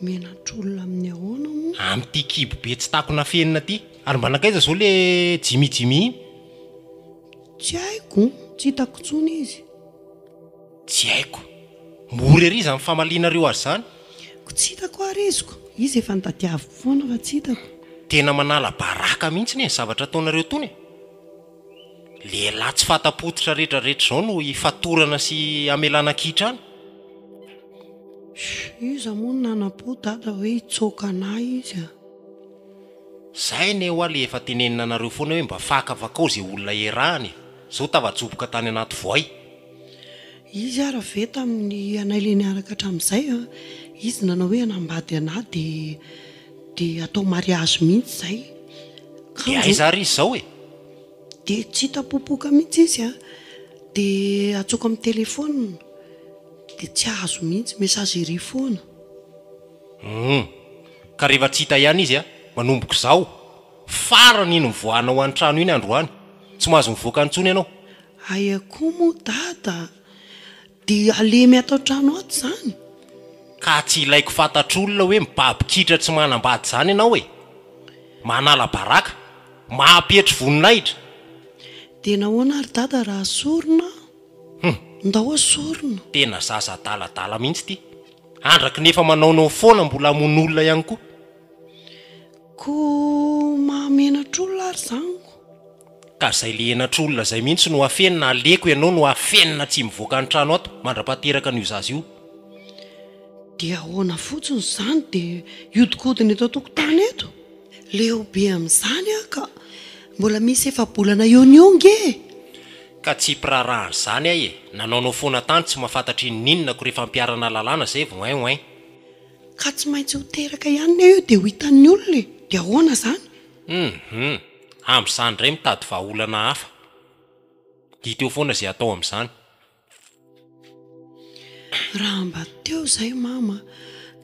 Menatra olona amin'ny ahoana moa? Amin'ity kibo be tsy takona fenina ity. Ary mba nankaiza izao le Jimmy Jimmy iny? Tsy haiko, tsy hitako intsony izy. Tsy haiko. Mora ery izany famalianareo azy izany. Koa tsy hitako ary izy ko. Izy efa nitadiaviko foana fa tsy hitako. Tena manala baraka mihitsy ny zavatra ataonareo tony e. Lehilahy tsy fanta-pototra retraretra izao no hifatorana sy hamelana an-kihitra any? Iza moa no nanampo dada hoe hitsoaka anah izy a! Zay anie hoa le efa tenenina anareo foana hoe mba faka vakao ze olona erahana e! Zao tavajoboka tany anaty voay. Izy ara ve tamin'ny anay le niaraka hatramin'izay a, izy nanao hoe hanambady anah dia De atao mariazy mihitsy zay kanjo. De aiza ary izy zao e? De tsy hita popoka mihitsy izy a, de atsoiko amin'ny téléphone de tsy azo mihitsy, messagerie foana. Humm, ka rehefa tsy hita ihany izy a, manomboka izao, farany iny mivoahanao any trano iny androany, tsy mahazo mivoaka intsony ianao. Aia koa moa dada? De halemy ato an-trano ato zany? Ka tsy ilaiko fantatr'olona hoe mibaby kitra tsy manambady izany ianao e! Manala baraka, mampetry voninahitra. De nahoana ary dada raha sorona? Hum. Ndao asorina. Tena zaza adaladala mihitsy ity. Andraky ny efa manaonao foana mbola hamono olona ihany koa. Ko mahamenatr'olona ary zany ko. Ka zay le henatr olona zay mihitsy no afenina, aleko ianao no afenina tsy mivoaka an trano ato mandrapahateraka an io zaza io. Dia ahoana fotsiny izany dia hiodikodina eto an-tokotany eto? Leo be amin'izany aho ka! Mbola misy efa-bolana eo ny onga e! Ka tsy mpiraharaha an'izany aho e! Nanaonao foana tany tsy mahafantatra inoninona ko rehefa ampiharana lalàna izay vao oin oin. Ka tsy maintsy ho teraka ihany ny ahy io dia ho hitan'ny olona e! Dia ahoana izany? Humm amzany ndray mitady vahaolana hafa. Dito eo foana ze atao amzany. Raha mba teo zay mama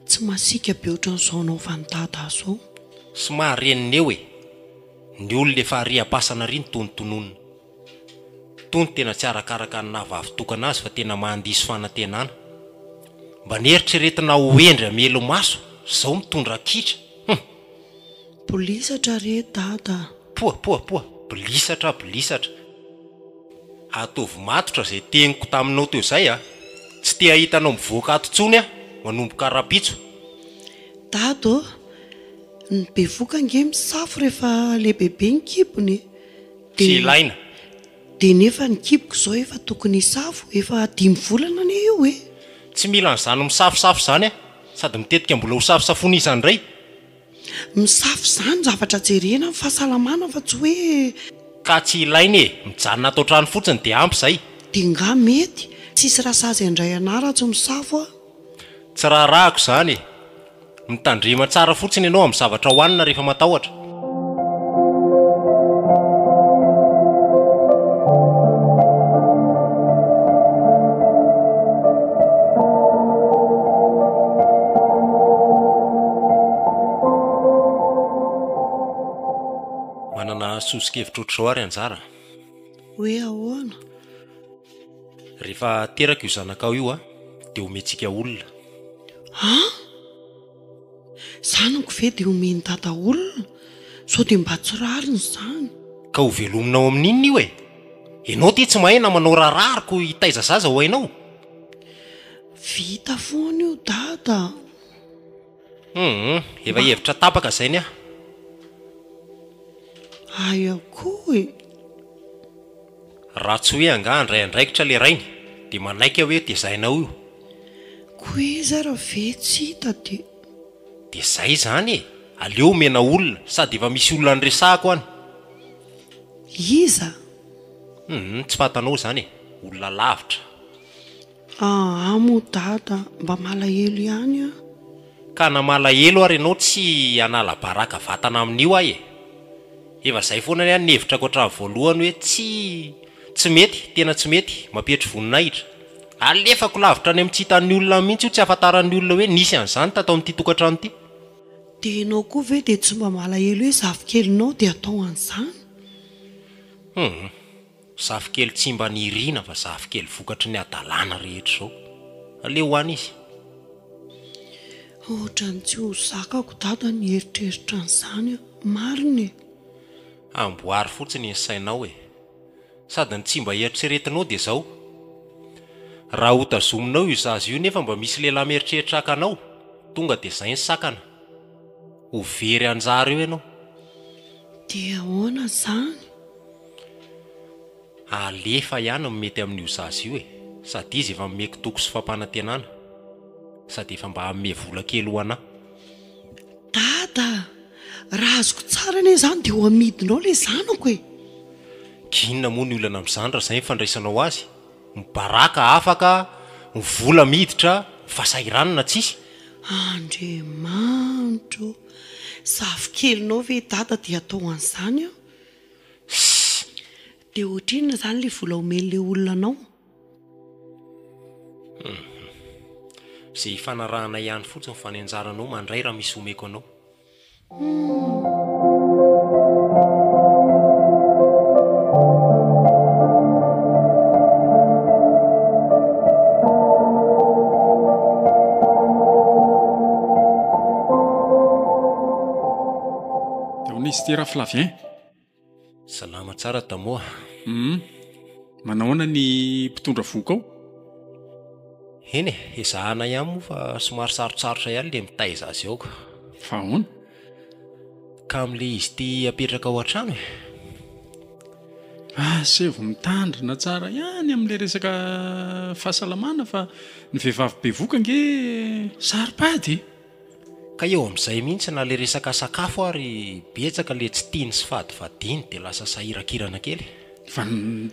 tsy masiaka be otran'izao anaovan'i dada azy zao. Somary reniny eo e! Ny olona efa ariam-pasana ary ny tony tononina. Tony tena tsy arakaraka ny naha vavitokana azy fa tena mahandiso fanantenana. Mba neritreretina ho hendry hamelo maso zao mitondra kitra. Humm. Bolisatra re dada a! Poa poa poa! Bolisatra bolisatra! Ataovy matotra izay teniko taminao teo izay a! Tsy te hahita anao mivoaka ato intsony aho manomboka rapitso! Dada ô! Ny bevoka ange misafo rehefa lehibebe ny kibony e! Tsy ilaina! Dia nefa ny kiboko izao efa tokony hisafo, efa dimy volana anie io e! Tsy mila an'izany misafosafo izany aho, sady mitetika mbola ho safosafoina iza indray! Misafo izany zavatra jerena amin'ny fahasalamana fa tsy hoe. Ka tsy ilaina e! Mijanona ato an-trano fotsiny dia ampy izay! Dia nga mety, tsisy raha sazy handray anah raha tsy misafo aho! Tsy raharahako izany e! Mitandrema tsara fotsiny ianao amin'ny zavatra hohanina rehefa matahotra. Manana sosokevitra ohatr'izao ary anjara. Hoe ahoana? Rehefa teraka io zanakao io a, dia omentsika olona. An? Zanako ve dia omen'i Dada olona? Sao dia mba tsy rariny izany? Ka ho velominao amin'inona io e? Ianao ity tsy mahay na manao raha rariko hitaiza zaza ho hainao? Vita foana io Dada a! Humm efa hevitra tapaka zay ny ahy. Ahy ihany koa e. Raha tsy hoe angaha handray andraikitra le rainy de manaiky aho hoe tezainao io. Koa iza raha ve tsy hita de. De zay zany e, aleo omena olona, sady efa misy olona niresahako any. Iza? Humm tsy fantanao zany e, olona lavitra. Aa moa dada mba malahelo ihany an! Ka na malahelo ary ianao tsy hanala baraka vatana amin'io aho e! Efa izay foana ny ahy ny hevitrako hatramin'ny voalohany hoe tsy tsy mety, tena tsy mety, mampihetsy voninahitra. Alefako lavitra any amin'ny tsy hitan'ny olona any mihitsy io tsy hahafantaran'ny olona hoe nisy an'izany tato amin'ity tokantrano ity. Dia ianao koa ve dia tsy mba malahelo hoe zafikelinao dia atao an'izany? Humm. Zafikely tsy mba nirina fa zafikely vokatry ny hadalana rehetra izao. Aleo ho any izy. Ohatran'ny tsy ho zakako dada ny hieritreritra an'izany an! Marina e! Amboary fotsiny ny sainao e! Sady ny tsy mba eritreretinao dia izao, raha ho tazominao io zaza io nefa mba misy lehilahy mieritreritra haka anao, tonga dia izay ny sakana, ho very anjara eo ianao. Dia ahoana izany? Alefa ihany no mety amin'io zaza io e! Sady izy efa nomeko toky sy fampanantenana, sady efa mba hanome vola kely ho anà. Dada a! Raha azoko tsara anie izany dia ho amidinao ilay zanako e! Inona moa ny olana amin'izany raha izay ny fandraisanao azy? Mibaraka afaka, ny vola miditra, ny fahasahiranana tsisy. Andriamanitro o! Zafikelinao ve i Dada dia atao an'izany an! Sy dia ohatrinona izany ilay vola omen'ilay olona anao? Hum. Izay hifanarahanay ihany fotsiny fa ny anjaranao mandray raha misy omeko anao. Dia ahoana izy ity Raflavien? Salama tsara Tamoa. Hum. Manahoana ny mpitondra vohoka ao? Eny e, ezahana ihany moa fa somary sarotsarotra ihany ilay mitaiza azy ao ka. Fa ahoana? Ka amin'ilay izy ity apetraka ao an-trano e. Asevo mitandrina tsara ihany amin'ilay resaka fahasalamana fa ny vehivavy bevoka ange saro-pady e. Ka eo amin'izay mihitsy na le resaka sakafo ary betsaka le tsy tiany sy fadifadiany dia lasa sahirakirana kely. Fa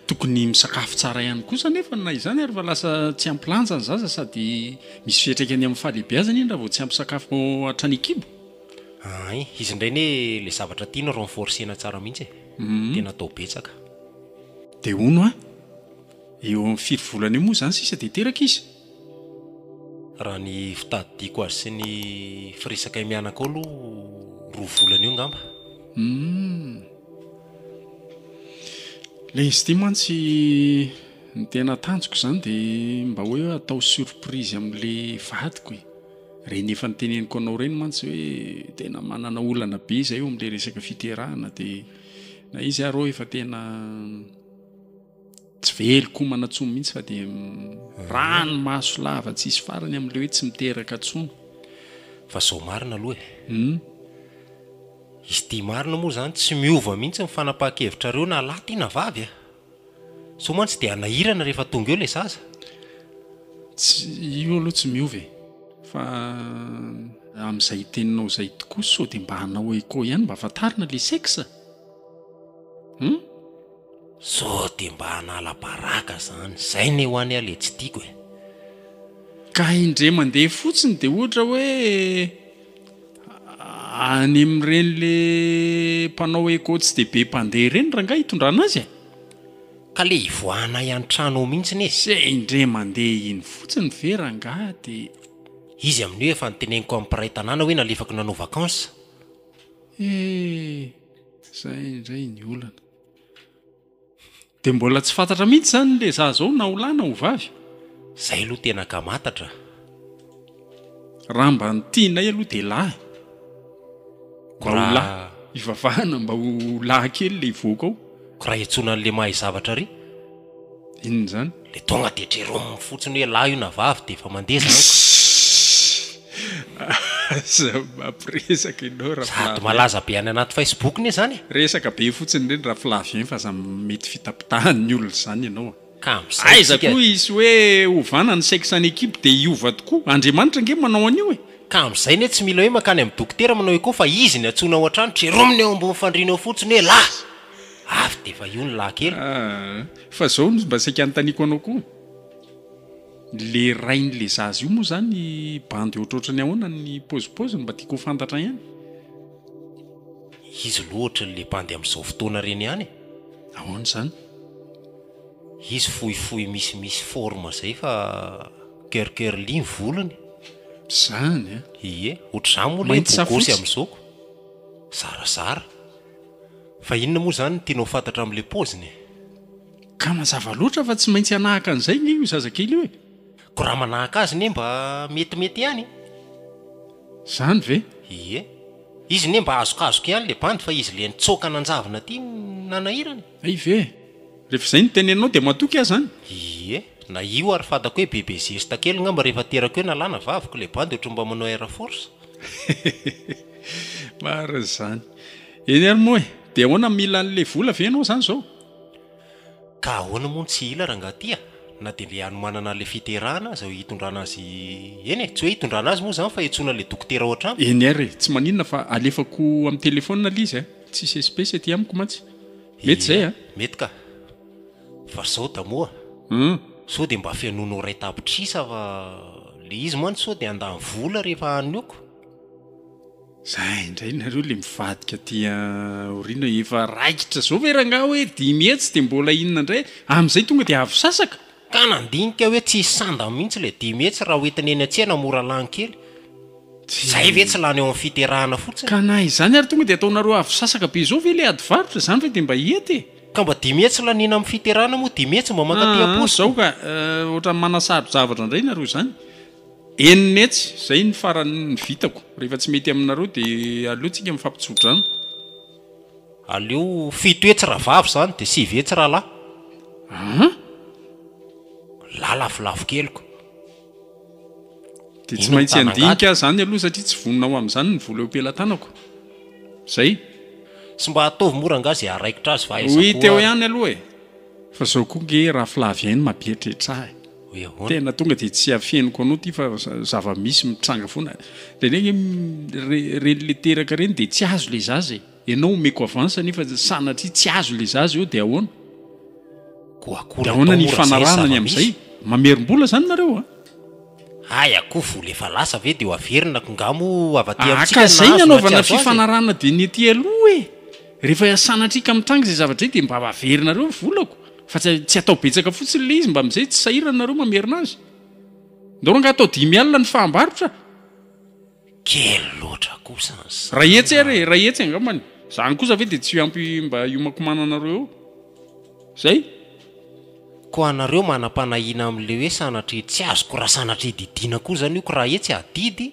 tokony misakafo tsara ihany kosa anefa na izany ary fa lasa tsy ampy lanja ny zaza sady misy fiatraikany amin'ny fahalehibeazany iny raha vao tsy ampy sakafo hatrany an-kibo. Ahay, izy indray anie le zavatra tiany renforcer-na tsara mihitsy e. Tena atao betsaka. Dia hono an! eo amin'ny firy volana eo moa izany sisa dia teraka izy? Raha ny fitadidiako azy sy ny firesakay mianaka ao aloha roa volana eo ngamba. Humm. Ilay izy ity mantsy ny tena tanjoko izany dia mba hoe atao surprise amin'ilay vadiko e. Ireny efa noteneniko anao ireny mantsy hoe tena manana olana be izahay eo amin'ilay resaka fiterahana dia na izy ary hoy efa tena. Tsy veloko homana intsony mihitsy fa dia rano maso lava tsy hisy farany amin'ilay hoe tsy miteraka intsony. Fa izao marina aloha e. Hum. Izy ity marina moa izany tsy miova mihitsy ny fanapahan-kevitrareo na lahy ity na vavy e. Sao mantsy dia hanahirana rehefa tonga eo ilay zaza. Tsy, io aloha tsy miova e. Fa amin'izay teninao izay tokoa sao dia mba hanao écho ihany mba hahafantarana ilay sexe. Hum. Sao dia mba hanala baraka zany. Zay ne hoan a le tsy tiako e. Ka indre mandeha fotsiny de ohatra hoe any amin'ireny le mpanao eco tsy de be mpandeha ireny rangahy hitondrana azy e. Ka le hivoahanay antrano ao mintsy ne. Zay indre mandeha iny fotsiny ve rangahy de. Izy amin'io efa noteneniko amin'ny mpiray tanàna hoe nalefako nanao vacances. Eh! Zay indray ny olana. Dia mbola tsy fantatra mihitsy izany ilay za zao na ho lahy na ho vavy. Zay aloha tena akamantatra a. Raha mba ny tianay aloha dia lahy. Mba ho lahy. Hivavahana mba ho lahy kely ilay hivoaka ao. Ko raha hiantsoana an'ilay mahay zavatra ry. Inona izany? Le tonga de jerôme fotsiny hoe lahy io na vavy de efa mandeha zany ka. Aza mampiresaka ianao Raflavien. Sady malaza be any anaty Facebook ne zany e. Resaka be fotsiny ireny Raflavien fa aza mety fitapitahan'ny olona izany ianao a. Ka amin'izay Aiza tsika. koa hisy hoe ovana ny sexe any equipe dia hiova tokoa? Andriamanitra ange manao an'io e. Ka amin'izay ne tsy mila hoe mankany amin'ny dokotera manao echo fa izy no antsoina ao an-trano, jerôme ny ao ambony fandriana ao fotsiny hoe lahy. avy de efa io ny lahy kely. Aah, fa zao no mba saika anontaniako anao koa, le rain'le zaza io moa zany bandy ohatrohatran'ny ahoana ny paozipaoziny mba tiako ho fantatra ihany? Izy loha ohatran'ny le bandy amin'izao fotoana reny ihany e! Ahoana izany? Izy fohifohy misimisy forme zay fa cur curly ny volony. Zany an! Ie, ohatr'izany moa le bogosy amin'izao ko! Zarazara. Fa inona moa izany no tianao fantatra amin'ilay paoziny e? Ka mazava loatra fa tsy maintsy hanahaka an'izay nge io zazakely io e! Ko raha manahaka azy nge mba metimety ihany e! Izany ve? Ie. Izy nge mba azokazoka ihany ilay bandy fa izy ilay nitsoaka nanjavona aty no nanahirana e! Hay ve? Rehefa izay no teneninao dia matoky aho izany? Ie, na io ary fantako hoe bebe zesta kely ngamba rehefa aterako eo nalana vaviko ilay bandy ohatran'ny mba manao air force. Marina izany. Eny ary moa e, dia ahoana mila an'ilay vola ve ianao izany izao? Ka ahoana moa no tsy hila rangaha ty a! Na dia mbe hanomanana an'ilay fiterahana aza eo hitondrana azy eny e! Tsy hoe hitondrana azy moa izany fa hiantsoana ilay dokotera ao an-trano. Eny ary e, tsy maninona fa alefako amin'ny telefaonina ilay izy a! Tsisy espèce aty amiko mantsy. Mety izay an. Mety ka. Fa sao da moa. Hum. Sao dia mba fihainoana oreille tapitrisa fa ilay izy mantsy sao dia handany vola rehefa hanioko. Zay indray nareo le mivadika aty aoriana efa raikitra zao ve rangaha hoe dimy hetsy dia mbola inona indray, amin'izay tonga dia avy sasaka? Ka nandinika hoe tsy hisy sandany mihitsy ilay dimy hetsy raha hoentina eny an-tsena mora lany kely. Izay ve tsy lany ao amin'ny fiterahana fotsiny? Ka na izany ary tonga dia ataonareo avo sasaka be izao ve ilay ady varotra? Izany ve dia mba hety e? Ka mba dimy hetsy laniana amin'ny fiterahana moa dimy hetsy mba mankaty am-paosy Zao ka, ohatran'ny manasaro-javatra indray nareo izany. Enina hetsy, izay no farany ny vitako. Rehefa tsy mety aminareo dia aleo tsika mifampitso-drano. Aleo fito hetsy rahavavy izany dia sivy hetsy rahalahy. An? Lahy lafolafo keliko. Dia tsy maintsy handinika ahy izany aloha satria tsy vonona ho amin'izany ny vola eo am-pelatanako. Izay. Tsy mba ataovy mora angaha izay haharaikitra azy fa aiza koa ary. Oui, teo ihany aloha e! Fa izao koa ange rafilavy ahy no mampieritreritra ahy. hoe ahoana. Tena tonga dia tsy afeniko anao ity fa zava misy mitranga foana. Dia ilay ireny ilay teraka ireny dia tsy azo ilay zaza e. Ianao omeko avance nefa sanatria tsy azo ilay zaza eo dia ahoana? Dia ahoana ny hifanarahana ny amin'izay? Mamerim-bola izany nareo a? Hay a, koa vola efa lasa ve dia ho averina ko nga mo avadika amintsika nahazo na tsy azo azy e? Haka izay ny hanaovana fifanarahana dia ny ety aloha e. Rehefa sanatria ka mitranga izay zavatra izay dia mba averina reo ny volako. Fa tsy atao betsaka fotsiny le izy mba amizay tsy sahirana nareo mamerina azy. Ndao rangah atao dimy alina ny fahambarotra. Kely loatra kosa ny saina. Ray hetsy ary e, ray hetsy angambany. Zany kosa ve dia tsy ho ampy mba hiomakomananareo eo? Zay. Koa nareo manam-panahiana amin'ilay hoe sanatria tsy azoko raha sanatria didiana koa zany io ko raha hetsy adidy?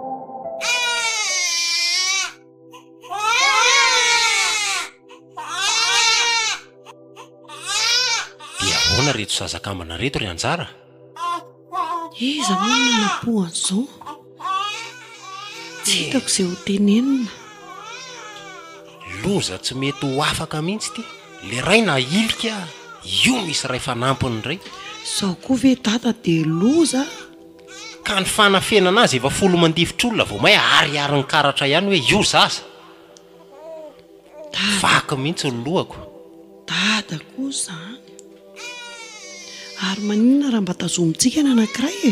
Dia ahoana reto zaza kambana reto ry anjara? Iza moa no nanapoha an'izao? Tsy hitako izay ho tenenina. Loza tsy mety ho afaka mihitsy ity. Le ray na hilika io misy ray fanampiny ray. Zao koa ve dada dia loza? Ka ny fanafenana azy efa folo mandifotr'olona vao may ariarin'ny karatra ihany hoe io zaza. Vaky mihitsy ny lohako. Dada koa izany. Ary maninona raha mba tazomintsika ny anankiray e?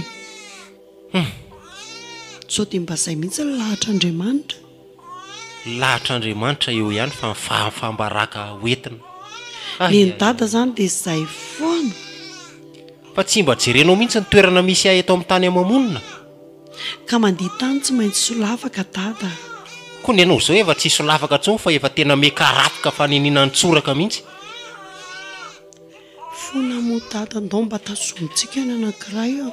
Humm. Sao dia mba izay mihitsy ny lahatr'Andriamanitra. lahatr'Andriamanitra eo ihany fa ny fahafam-baraka ho entina. Nen'i Dada zany dia izay foana. Fa tsy mba jerenao mihitsy ny toerana misy ahy eto amin'ny tany ama-monina? Ka mandihy tany tsy maintsy solafaka Dada a! Koa ny anao izao efa tsy solafaka intsony fa efa tena miakarafoka fanenina an-tsoraka mihitsy. Fona moa Dada ndao mba tazomitsika ny anankiray a!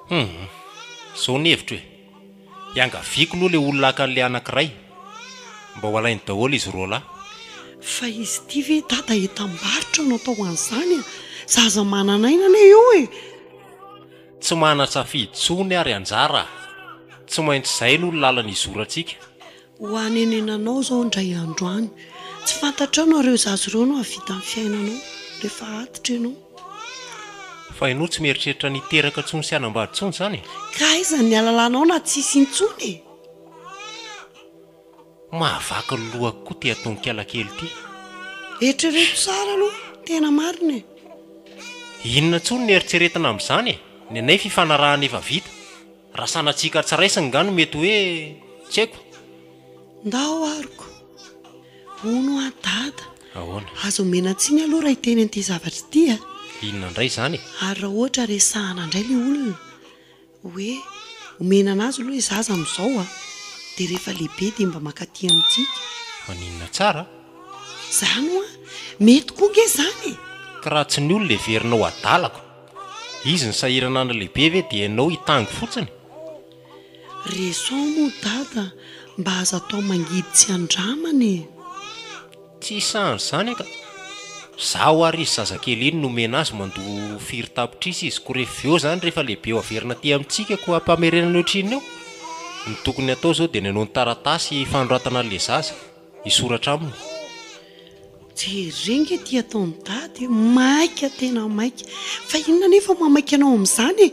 Hum! Izao ny hevitro e! Iangaviako loha le olona haka an'le anankiray mba ho alainy daholo izy roa lahy. Fa izy ity ve dada entam-barotra no atao an'izany a? Zaza manan'aina anie io e! Tsy manan-tsafidy tsony ary anjara a! Tsy maintsy izay no lalana izorantsika. Ho hanenenanao izao indray andro any. Tsy fantatrao na ireo zaza ireo no hahavita ny fiainanao rehefa antitra ianao. Fa ianao tsy mieritreritra ny hiteraka intsony sy hanambady intsony izany e? Ka aiza ny halalanao na tsy hisy intsony e? Mahavaky ny lohako koa ity atonon-kiala kely ity. Eritrereto tsara aloha, tena marina e. Inona intsony no eritreretina amin'izany e? Ny anay fifanarahana efa vita. Raha sanatsiaka tsy raisiny nga no mety hoe tsy haiko. Ndao aroko. Hono an dada. Ahoana? Aza omena tsiny aloha raha hiteny an'ity zavatra ity a. Inona indray izany e? Ary raha ohatra resahana indray ilay olona hoe omena anazy aloha ilay zaza amin'izao a, dia rehefa lehibe dia mba mankaty amintsika. Maninona tsara? Izany ho'a. Mety koa ange izany e! Ka raha tsy ny olona heverina ho adalako? Izy ny sahirana andro lehibe ve dia ianao hitango fotsiny? Resaho moa dada mba aza atao mangidy tsy andramana e! Tsy hisahan izany aka! Zaho ary izy zazakely iny no omena azy mandoa firy tapitrisa izy ko rehefa veo izany rehefa lehibe ho averina aty amintsika ko ampamerenana ohatrinona eo? Ny tokony atao izao dia ny anao ny taratasy fanoratana anle zaza. hisoratra aminy. Jereo nge ity ataon'i dada e, maika tena maika, fa inona anefa mamaika anao amin'izany e?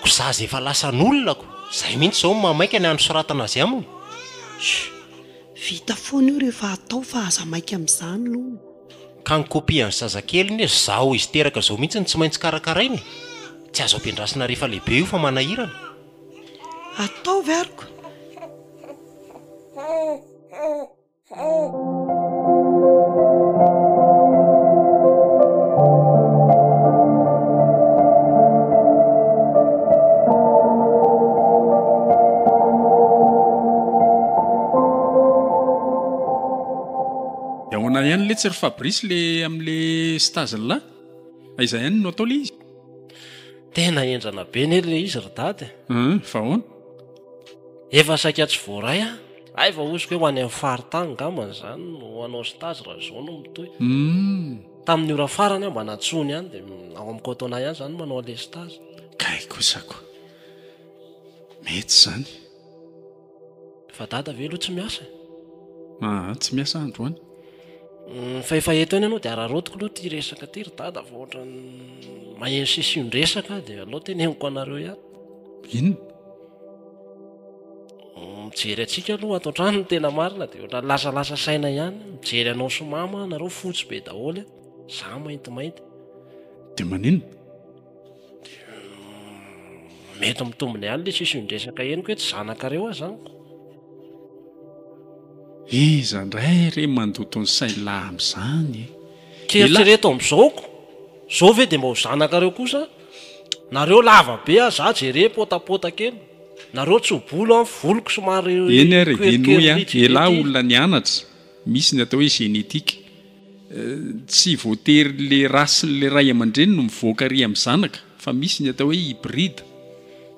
Ko za zay efa lasan'olona ko zay mihintsy zao no mamaika ny hanosoratana azy aminy. Shh, vita foana io rehefa atao fa aza maika amin'izany lou. Ka ny copie an'ny zazakely anie zao izy teraka zao mihintsy no tsy maintsy karakaraina e, tsy azo ampiandrasina rehefa lehibe io fa manahirana. Ataovy ary ko. tsy ry fabrice le amle stage la aiza ihany no atao le izy tena endrana be ne le izy ry dady fa ahoana Efa saika tsy voaray an! Hay vao hoziko hoe ho any amin'ny faritany angamba izany no ho anao sy Tazy raha izao no mitohy. Hum. Tamin'ny ora farany aho mba natsoiny ihany dia ao amin'ny coton-na ihany izany manao an'ilay stage. Kay kosa koa. Mety izany. Fa Dada ve aloha tsy miasa e? Aa tsy miasa aho androany. Hum, fa efa eto ihany ianao dia araraotiko aloha ity resaka ity ry Dada fa ohatran'ny maheno sisindresaka aho dia aleo teneniko anareo ihany. Inona? Mijery antsika aloha ato an-trano ny tena marina dia ohatran'ny lasalasa saina ihany. Mijery anao sy mama ianareo fotsy be daholo, izaho maintimainty. Dia maninona? Mety mitombina ihany ilay sisin-dresaka henoko hoe tsy zanakareo aho izany. Iza indray re mandoto ny sain'lah amin'izany e? K'eritrereto amin'izao koa, izao ve dia mba ho zanakareo kosa aho? Nareo lava be a za jere potapotaka eny nareo tsy ho bolo an voloko somary Eny ary henoy an elah olona nianatra misy ny atao hoe génétique tsy voatery le race le ray aman-dreny no mivoaka ry am zanaka fa misy ny atao hoe hybride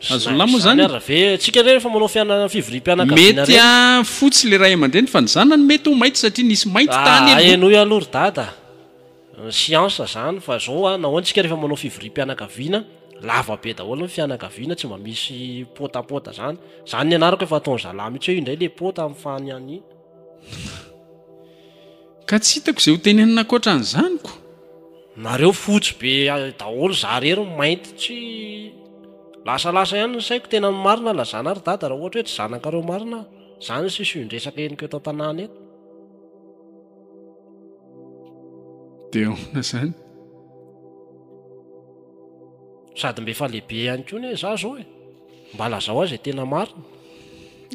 azonlah moa zany mety a fotsy le ray aman-dreny fa ny zanany mety ho mainty satria nisy mainty tany aloha. siansa izany fa zao a nahoana isika rehefa manao fivoriam-pianakaviana lava be daholo ny fianakaviana tsy mba misy potapota zany zany ny anarako efa ataon'ny zalahy mihitsy hoe indray le pota amin'ny fany any ka tsy hitako izay ho tenenina ankoatra an'izany ko nareo fotsy be daholo za rery ny mainty tsy lasalasa ihany ny saiko tena ny marina lazana ry dada raha ohatra hoe tsy zanakareo marina aho zany ny sisindresaka henoko eto an-tanàna eto Dia ahoana izany? Sady mba efa lehibe ihany koa anie izaho izao e. Mba lazao ahy izay tena marina.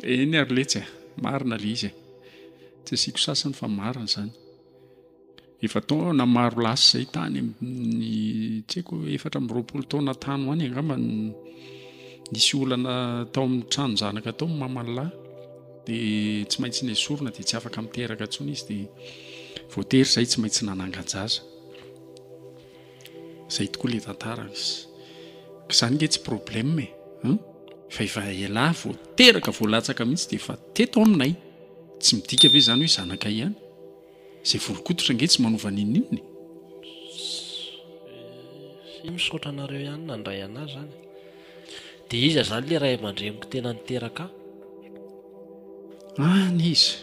Eny ary letsy e, marina ilay izy e. Tsy asiako sasany fa marina izany. Efa taona maro lasa izay tany amin'ny tsy haiko efatra amby roapolo taona tany ho any angamba no nisy olana tao amin'ny tranon-janaka tao ny maman'lahy. dia tsy maintsy nesorina dia tsy afaka miteraka intsony izy dia voatery izay tsy maintsy nanangan-jaza izay tokoa le tantara izy izany nge tsy problème e hein? fa efa elah vao teraka vao latsaka mihitsy dia efa teto aminay tsy midika ve izany hoe zanaka ihany Zay vorokototra nge tsy manova ninoninona e. Sy misaotra anareo ihany nandray anah zany. De iza zany le ray aman-dreniko tena niteraka ahy? Any izy.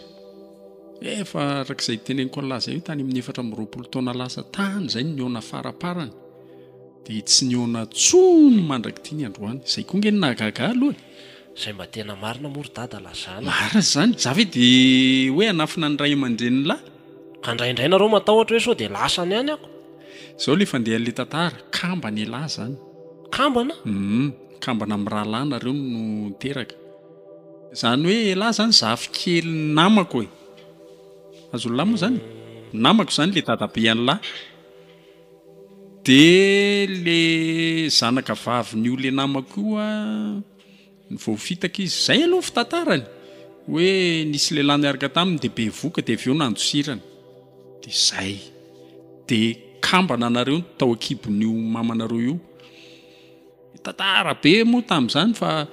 Efa arak'izay teneniko anlah zay hoe tany amin'ny efatra amby roapolo taona lasa tany zay no nihaona faraparany. De tsy nihaona tsony mandrak'ity ny androany. Zay koa nge no nahagaga ahy aloha e. Zay mba tena marina moa ry dada lazana. Marina izany, za ve de hoe hanafina ny ray aman-dreniny lahy? Ka indraindray nareo matahotra hoe sao de lasany any ako. Zao le fandehan le tantara, kambana elah zany. Kambana? Humm, kambana am rahalahy nareo no niteraka. Zany hoe elah zany zafikely ny namako e. Azonlah moa zany e. Namako zany le dadabe an lah. De le zanaka vavin io le namako io an. Voafitaka izy. Izay aloha ny fitantarany hoe nisy lehilahy niaraka taminy dia bevoka dia avy eo nandosirana. Dia izay. Dia kambana anareo no tao an-kibon'io mamanareo io. Tantara be moa tamin'izany fa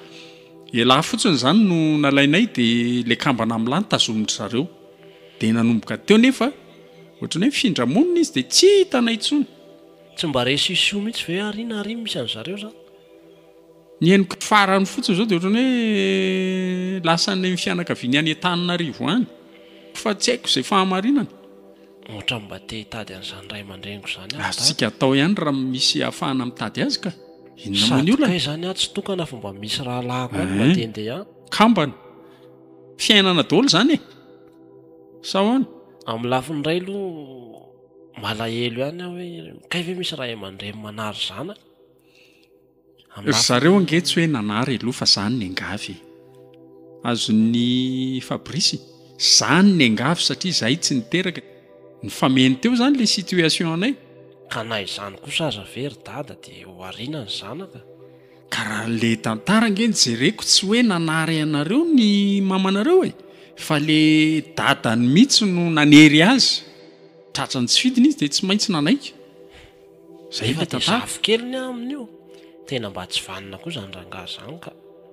ialahy fotsiny izany no nalainay dia ilay kambana amin'ny lahy no tazomin-dry zareo. Dia nanomboka teo nefa ohatran'ny hoe nifindra monina izy dia tsy hitanay intsony. Tsy mba resy io sy io mihitsy ve ary na ary misy an'zareo zany? Ny henoko farany fotsiny izao dia ohatran'ny hoe lasa any amin'ny fianakaviany any Antananarivo any fa tsy haiko izay fahamarinana. Ohatran'ny mba te hitady an'izany ray aman-dreniko izany aho. Azontsika atao ihany raha misy ahafahana mitady azy ka. Inona moa ny olana? Sady kay izany aho tsy tokana fa mba misy rahalahiko any mba te handeha any. Kambana. Fiainana daholo izany e! Sa ahoana? Amin'ny lafiny iray aloha malahelo ihany aho hoe kay ve misy ray aman-dreny manary zanaka? Ry zareo ange tsy hoe nanary aloha fa zany nengavy e! Azon'i Fabrice zany nengavy satria zahay tsy niteraka, nifameno teo zany le situation anay. Ka na izany kosa aza ve ry dada dia ho ariana ny zanaka? Ka raha le tantara ange no jereko tsy hoe nanary anareo ny mamanareo e! Fa le dadany mitsy no nanery azy, tratran'ny tsy fidiny izy dia tsy maintsy nanaiky. Zay efa de zafikely ny aminy io. Tena mba tsy vanona koa zany rangaha zany ka.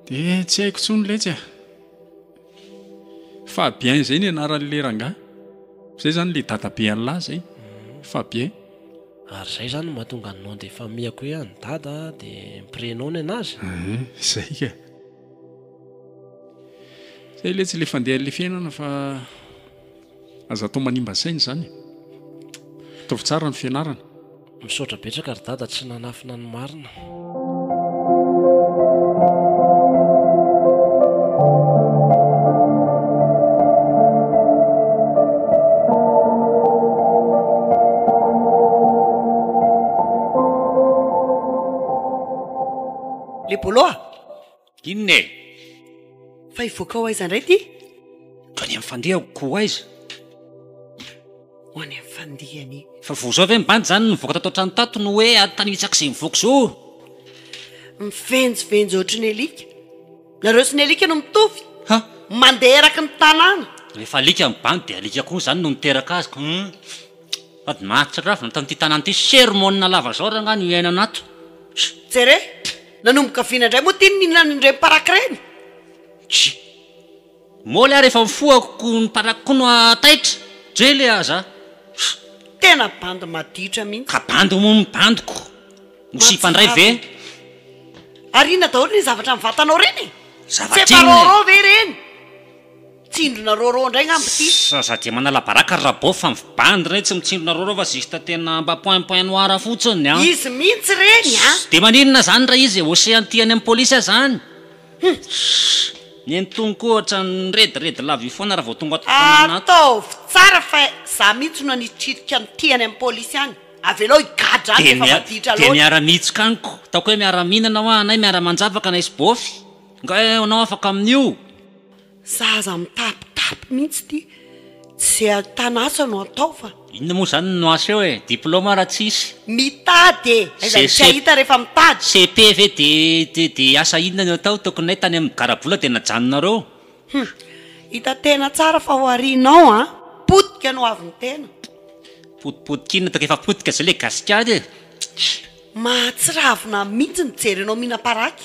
De tsy haiko tsony letsy ah. Fabien zay ny anaran'le rangaha. Zay zany le dadabe an'lah zay. Fabien. Ary zay zany no mahatonga ny nom de famille-ko hoe an'i dada de ny prénom ny anazy? Ahh zay ka. Zay letsy le fandehan'le fiainana fa. Aza atao manimba saina izany e. Ataovy tsara ny fianarana. Misaotra betsaka ry dada tsy nanafina ny marina. Inona e? Fa hivoaka ho aiza indray ity? Ho any amin'ny fandihako ko ho aiza? Ho any amin'ny fandihany. Fa vao izao ve ny bandy izany nivoaka tato an-trano tato no hoe ady tany hitsaka izay mivoaka izao? Mivenjivenjy ohatry ny alika. Nareo sy ny alika no mitovy. Ha? Mandeha eraky ny tanàna. Rehefa alika ny bandy dia alika koa izany no niteraka azy ka. Hum. Sady mahatsiravina tamin'ity tanàna ity sermona lava izao rangahy no iainana ato. Jereo! Nanomboka vina indray moa ty ny nihinanan'ny reny paraky reny? Tchii. Moly ary efa mifohako ko ny paraky ko no taitra, dre le ah za. Tena bandy maditra mihitsy. Ka bandy hono ny bandiko. Mosipa ndray ve? Ary inona daholo le zavatra ny vatanao reny e? Zava-tsinona e! Feparôrô ve reny? Tsindrona rôrô ndray ngamba ity. Sa za dia manala baraka ry Rabao fa mvy bandy re tsy mitsindrona rôrô fa juste tena mba point point noir fotsiny an! Izy mintsy reny an! Ss, de maninona zany ra izy ocean tia any am police azany? Hum! Ss, nenitoany koa ohatran'ny nirediredy lava io foana ra vao tonga ato fotoanana ato. Ataovy tsara fa za mintsy no nitrika an'ity any am police any, avelao higadra any refa maditra loatra. De miara miitsoka any ko! Ataoko hoe miara mihinana hoa anay miara manjavaka anay sy Bôfy! Nga eh anao afaka amin'io? Za aza mitapitapy mihitsy ty ze ahitana asa no atao fa. Inona moa zany no asa eo e? Diploma raha tsisy. Mitady e! Aiza no tsy ahita rehefa mitady. CEP ve de de asa inona no atao? Tokinay tany amin'ny garabola de najanonareo. Hum. Hita tena tsara fa oharinao an! Potika no avy ny tena. Potipotika inona toa efa potika zay le gasikara e! Mahatsiravina mihitsy mijery anao mihinam-paraky.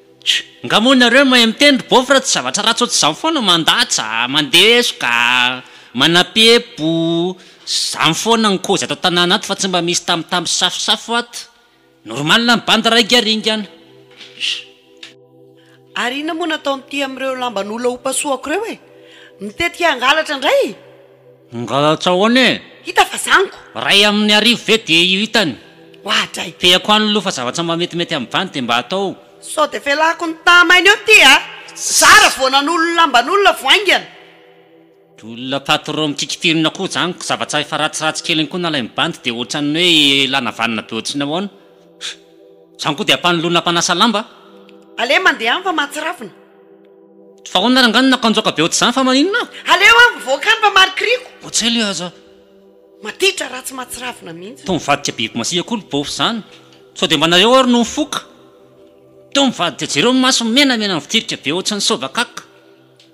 Tjo, nga moa nareo mahay miteny ry beauf ra tsy zavatra ratsy ohatr'izany foana mandatsa, mandesoka, manapepo, zany foana ny kozy ato an-tanàna ato fa tsy mba misy tambitamby sy safosafo ato, normal ny bandy raingaringana. Ary inona moa no ataon'ity amin'ireo lamban'olona hopasohako ireo e? Mitetika hangalatra indray? Mangalatra ahoana e? Hita fa zany ko! Ray aminy arivo ve dia io hitany? Wah dray! Feako any aloha fa zavatra mba metimety amvany dia mba atao. Sao dia velako ny tamainy eo ty a! Zara vao nanolo lamban'olona vao haingana! Olona patron mikikitirina koa zany ko zavatra efa ratsiratsy kely iny koa nalain'ny bandy dia ohatran'ny hoe ilana vanona be ohatry ny ahoana? Zany koa dia ampanoloana mpanasa lamba? Aleo mandeha any fa mahatsiravina. Fa ahoana rangahy no nakanjoaka be ohatr'izany fa maninona aho? Aleo aho mivoaka any mba marikoriko. Ohat'izay le aza. Matitra ratsy mahatsiravina mihitsy. Toa mivadika biby masiaka koa ry Bôfy zany. Sao dia mba nareo ary no mifoka. Toa mivadika jereo ny masony menamena mivotirika be ohatran'ny sôbakaka.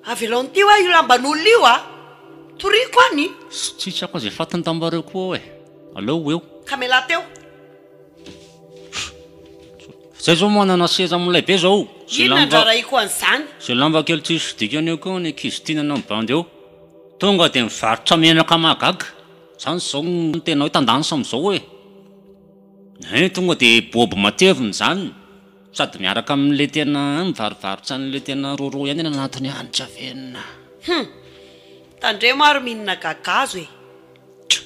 Avelao ny tia hoa io lamban'olona io a! Toriako any. Sitrako aza efa fantany tambareo koa ao e! Aleo ho eo. Ka mialà teo. Zay zao manana seza milay be zao. Inona ny rarahiko an'izany? Ze lamba kely tsisy dikany eo koa ny ankizy tia nanao ny bandy eo. Tonga dia mivarotra menaka mahagaga. Zany zao ny tena hoe tendance amizao e. Hein tonga dia bob matevina zany sady miaraka amle tena hein mivarovarotra anle tena rôrô ihany any anatiny any tsy avenona. Hum! Tandremo ary mihinana gagazo e! Tjo!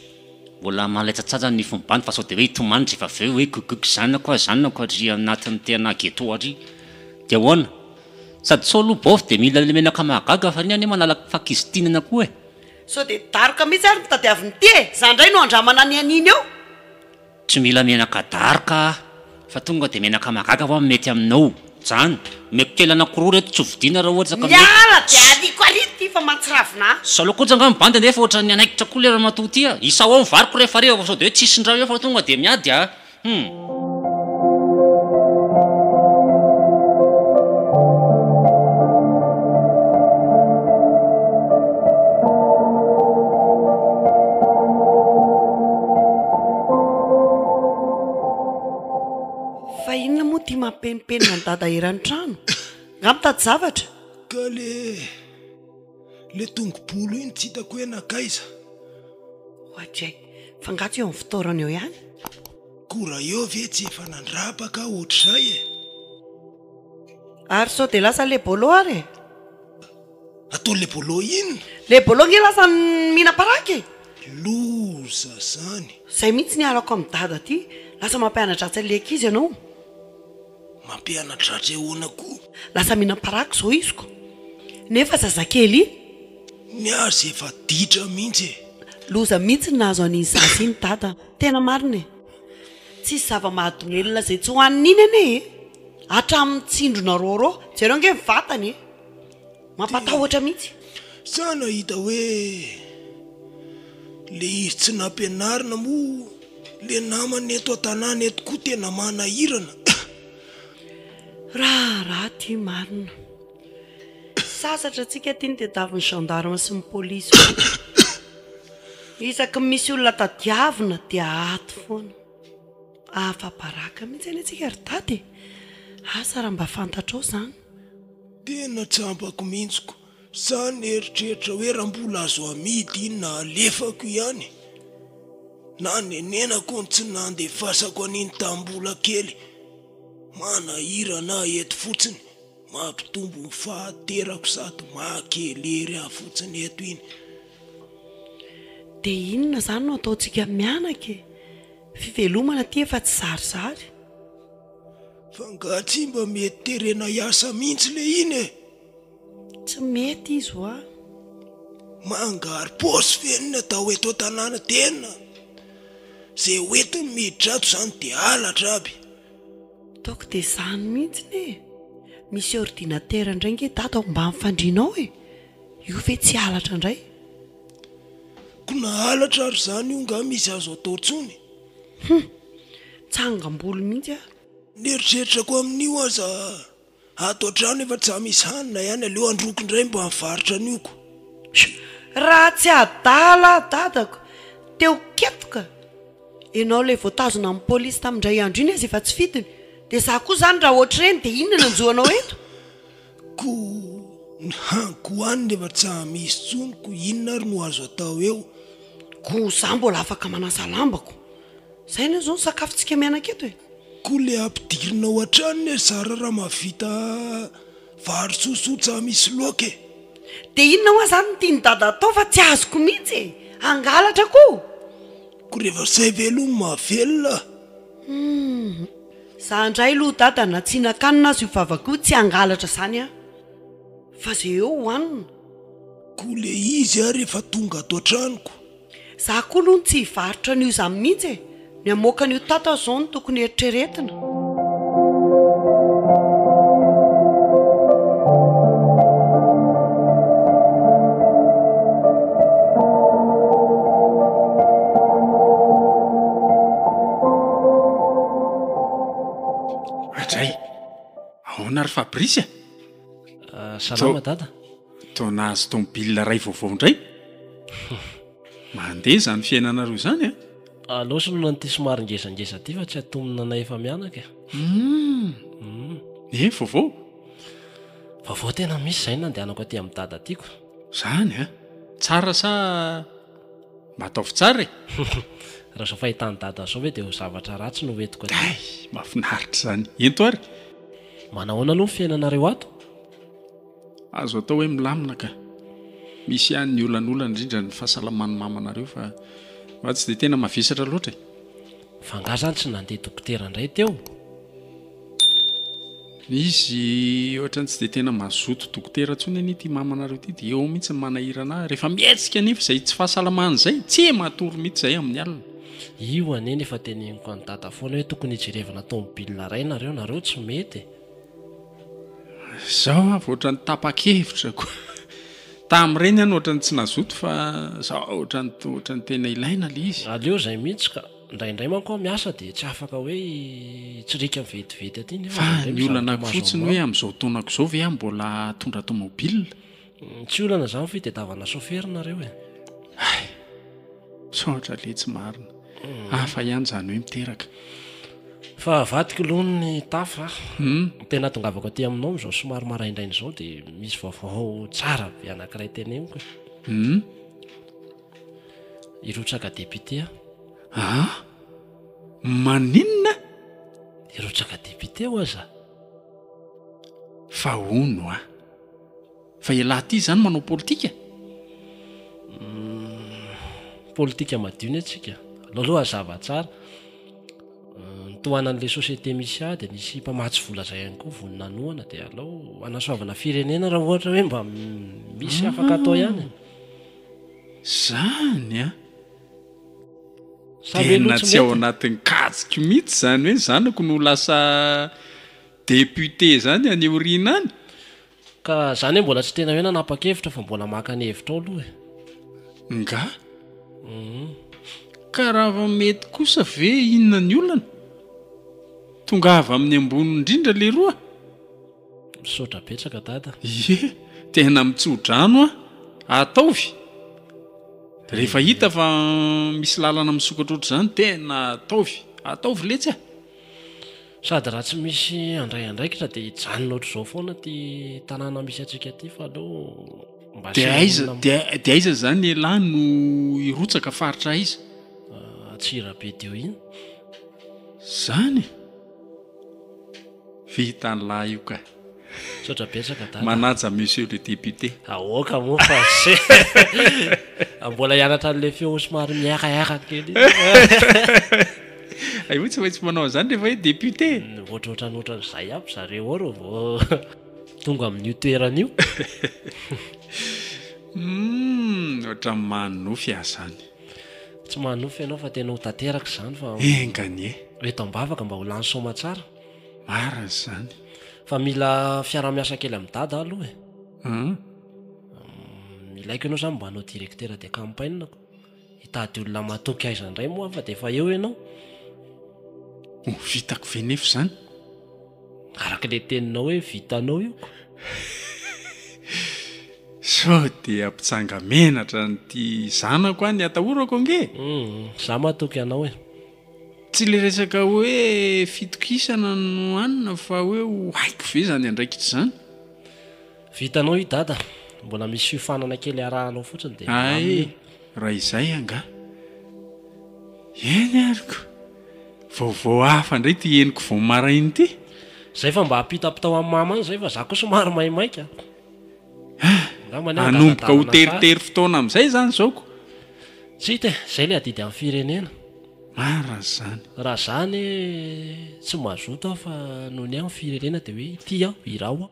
Mbola mahalatsatsatsa ny fombany fa sao dia hoe hitomany rehefa avy eo hoe gugug zanako a zanako ary anatin'ny tena ghetto ary dia ahoana? Sady sao aloha baofy dia mila ilay menaka mahagaga fa ny anie manala fakizitinana koa e! Sao dia daroka mihitsy ary ny mpitadiavy ny tia e! Za indray no handramana ny an'iny eo! Tsy mila menaka daroka aho fa tonga dia menaka mahagaga va mety aminao zany? Omeko kely anakoroa reto tsy ho vidiana raha ohatra ka mety. Miala dia aliko ary ity fa mahatsiravina ahy. Saloha koja nga ny bandy nefa ohatran'ny hanaikitra koa le ramatoa ty ah! Isao ao ny variko rehefa hariva fa sao dia hoe tsy hisy indray eo fa tonga dia miady ah! Hum. Fa inona moa ity mampenimpenina an'i Dada eran'ny trano? Nga mitady zavatra? Ka le le tongobolo iny tsy hitako hoe nankaiza? Oadray! Fa nga tsy eo amin'ny fitoerany eo ihany? Koa raha eo ve tsy efa nandrapaka aho ohatr'izay e! Ary sao dia lasa le bolo ary e! Ataony le bolo inn. Le bolo nge lasa mihina paraky e. Loza zany. Zay mihitsy niarako am dada ty. Lasa mampianadratsy anle ankizy ianao. Mampianadratsy ahoana ko. Lasa mihinam paraky zao izy ko nefa zazakely. Ny azy efa ditra mihitsy e. Loza mihitsy ny nahazo an'iny zaza iny dada. Tena marina e. Tsisy zava-mahadomelina izay tsy hohanina iny anie e. Hatramin'ny tsindrona rôrô. Jereo ange ny vatany e. Mampatahotra mihitsy. Sa nahita hoe le izy tsy nampianarina moa le namany eto an-tanàna eto koa tena manahirana eh! Raharaha ity marina. Sasatra antsika ity ny tadiavin'ny gendarmes sy ny police foana. Isaky ny misy olona tadiavina dia ato foana. Afa-baraka mihitsy anie tsika ry dada e! Asa raha mba fantatrao zany. Tena tsy ampako mihitsy ko. Za nieritreritra hoe raha mbola azo amidy iny na alefako ihany na nenenako ny tsy nandefasako an'iny tamin'ny mbola kely. Manahirana ahy eto fotsiny, mampitombo ny fahanterako sady maha-kelery ahy fotsiny eto iny. Dia inona izany no ataontsika mianaka e? Fivelomana aty efa tsy zarizary. Fa nga tsy mba mety terena hiasa mintsy le iny e! Tsy mety izy wa. Mangary paosy ve ny natao eto an-tanàna tena? Ze ho entiny miditra ato zany de halatra aby. Ataoko de zany mintsiny e! Misy ordinatera ndray nge daty ao ambany fandrianao e! Io ve tsy halatra ndray? Ko na halatra ary zany io nga misy azo atao tsony? Hum! Mitsangam-bolo mihitsy aho. Ny eritreritrako amin'io aza ato an-trano efa tsa misy hanina ihany aleo androako indray mba nivarotra an'io ko. Raha tsy adala aho dadako te ho ketoka Enao ilay voatazona amin'ny polisy tamin-dray andro iny aza efa tsy fidiny dia za koa zany raha ohatr'ireny dia inona no hanjo anao eto? Koa ny haniko any nefa tsy hamisy tsony ko inona ary no azo atao eo? Koa za mbola afaka manasa lambako. Zay anie zao ny sakafontsika mianaka eto e! Koa le ampidirina ao an-trano ne ry zara raha mahavita vary sosoa tsy hamisy loaka e! Dia inona hoa zany no tian'i dada atao fa tsy azoko mihitsy e! Hangalatra koa? Koa rehefa zay ve aloha no mahavelona? Humm. Za indray aloha dada na tsy hihinan-kanina aza io vavako io tsy hangalatra zany an! fa ze eo hohanina. Ko le izy ary efa tonga ato an-tranoko. Za koa aloha tsy hivarotra an'io zany mihitsy e! ny hamoaka an'io tato aza zao no tokony eritreretina. Adray, ahoana ry Fabrice e? Ah, salama dada. Toa nahazo tomobile iray vaovao indray. Mandeha izany fiainanareo izany an? Ah? Aleo soloina an'ity somary ngezangeza ity fa tsy atomina anay efa mianaka e. Hmm. Hmm. Eh, vaovao? Vaovao tena misy izay nandehanako aty amin'ny dada tiako. Izany an? Tsara sa Mba ataovy tsara e! Raha izao fahitan'i Dada izao ve dia ho zavatra ratsy no ho entiko aty? Hay! Mahafinaritra izany! Ento ary! Manao ahoana aloha ny fiainanareo ato? Azo atao hoe milamina ka! Misy ihany ny olanolana indrindra ny fahasalaman'ny mamanareo fa fa tsy dia tena mavesatra loatra e! F'angaha izany tsy nandeha dokotera indray teo? Izy ohatrany tsy dia tena mazoto dokotera intsony anie ity mamanareo ity dia eo mihitsy ny manahirana ahy rehefa mihetsika anefa izay tsy fahasalamana izay tsia matory mihitsy izay amin'ny alina. Io anie no efa teneniko an'i dada foana hoe tokony hijerevana tomobilina iray nareo, nareo tsy mety e! Izao avy ohatrany tapa-kevitra koa. Tamin'ireny aho no ohatrany tsy nazoto fa izao ohatrany ohatrany tena ilaina ilay izy. Aleo izay mihitsy ka! Indraindray manko aho miasa dia tsy afaka hoe hitsirika vetivety aty nefa Fa indraindray ny mizara olana toa mahazo fotsiny hoe anao. amin'izao taonako izao ve aho mbola hitondra tomobilina? Mm, Tsy olana izany fa itadiavana chauffeur nareo e. Hay! Misaotra letsy marina. Hafa ihany izany hoe miteraka. Fa avadiko aloha ny tafo a. Ny tena ahatongavako aty aminao amin'izao somary maraindraina izao dia misy vaovao tsara be anankiray teneniko e. Hum. Hirotsaka député aho. Aa! Maninona? Hirotsaka député ho'a za. Fa hono a! Fa ialahy ity izany manao politika? Politika madio ny antsika. Aleo aloha hazava tsara. Ny tohanan'ilay société misy ahy dia nisy mpamatsy vola izay ihany koa vao nanohana dia aleo hanasoavana firenena raha ohatra hoe mba misy afaka atao ihany e. Zany an! Tena tsy ao anatin'ny kajiko mihitsy izany hoe ny zanako no ho lasa député zany any aoriana any. Ka zany hoe mbola tsy tena hoe nanapa-kevitra fa mbola maka ny hevitra ao aloha e! Ngah? Ka raha mety kosa ve inona ny olana? Tongava amin'ny ambony indrindra leroa! Misaotra betsaka dada. Ye, tena mitsodrano a! Ataovy! Rehefa hita fa misy lalana misokatra ohatr'izany, tena ataovy! Ataovy letsy a! Sady raha tsy misy handray andraikitra dia hijanona ohatr'izao foana ity tanàna misy antsika ity fa aleo mba Dia asiana aiza, olona dia, dia aiza izany elah no hirotsaka, faritra aiza? Antsirabe Diohina. Izany e! Vita anlah io ka. Misaotra betsaka dada. Manaja monsieur le député. Aoka moa fa se mbola hianatra an'le feo somary mihaihaka kely iny. Aivo tsy maintsy manao an'izany rehefa hoe député e. Ohatrohatran'ny ohatran'izay aby zareo ao raha vao tonga amin'io toerana io. Humm ohatran'ny manonofy aho zany. Tsy manonofy ianao fa tena ho tanteraka izany fa Enga anie. Eto am-bavaka mba ho lany soa aman-tsara. Marina izany. Fa mila fiaraha-miasa kely amin'i Dada aho aloha e. An? Ilaiko ianao izany mba hanao directeur de campagne ko. Hitady olona matoky aiza indray moa aho fa dia efa eo ianao. Ho vitako ve nefa izany? Araka ilay teninao hoe vitanao io ko. Sao dia mpitsanga menatra an'ity zanako any atahorako ange e! Izaho matoky anao e! Tsy ilay resaka hoe fitokisana no hanina fa hoe ho haiko ve izany andraikitra izany? Vitanao io dada, mbola misy fiofanana kely arahanao fotsiny dia milamina io. Hay raha izay angaha. Eny ary ko. Vaovao hafa indray ity henoko vao maraina ity. Zay fa mba apitapitao an'i mama any zay fa za koa somary maimaika. Angambany aho angadadalana sary. Hanomboka ho teritery fotoana amin'izay izany izao ko. Tsy hita e, zay le adidy amin'ny firenena. Marina izany. Raha za anie tsy mazoto aho fa nony aho ny firenena dia hoe ity aho, iraho aho.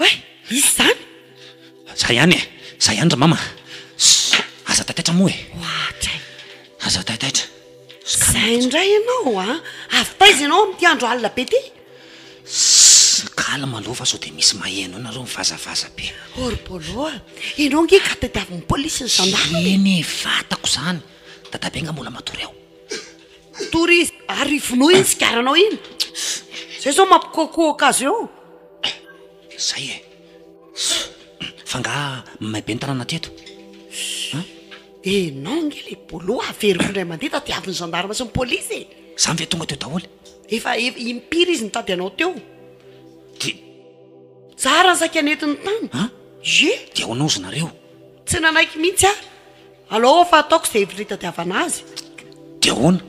Oay! Misy izany? Za ihany e! Za ihany ry mama! Ssss! Aza taitaitra moa e! Ohatra e! Aza taitaitra! Izay indray ianao a! Avy taiza ianao amin'ity andro alina be ity? Ssss! Calme aloha fa sao dia misy maheno anareo mivazavaza be! Oh ry Paolo a! Ianao ange ka tadiavin'ny polisy ny zandary e! Eny e! Fantako izany! Dadabe nga mbola matory ao? Tory izy ary vonoy iny sigaranao iny Zay zao mampikoakoaka azy eo Zay e Fa nga may be ny tanàna teto an Enao nge le bolo averiko indray mandeha tadiavin'ny gendarme sy ny police e Zany ve tonga teo daholo Efa impiry izy nitady anao teo Dia Tsara ny saika nentiny tany an Ie Dia honaozina reo Tsy nanaiky mihitsy aho Alao fa ataoko izay hevitra hitadiavana azy. Dia ahoana?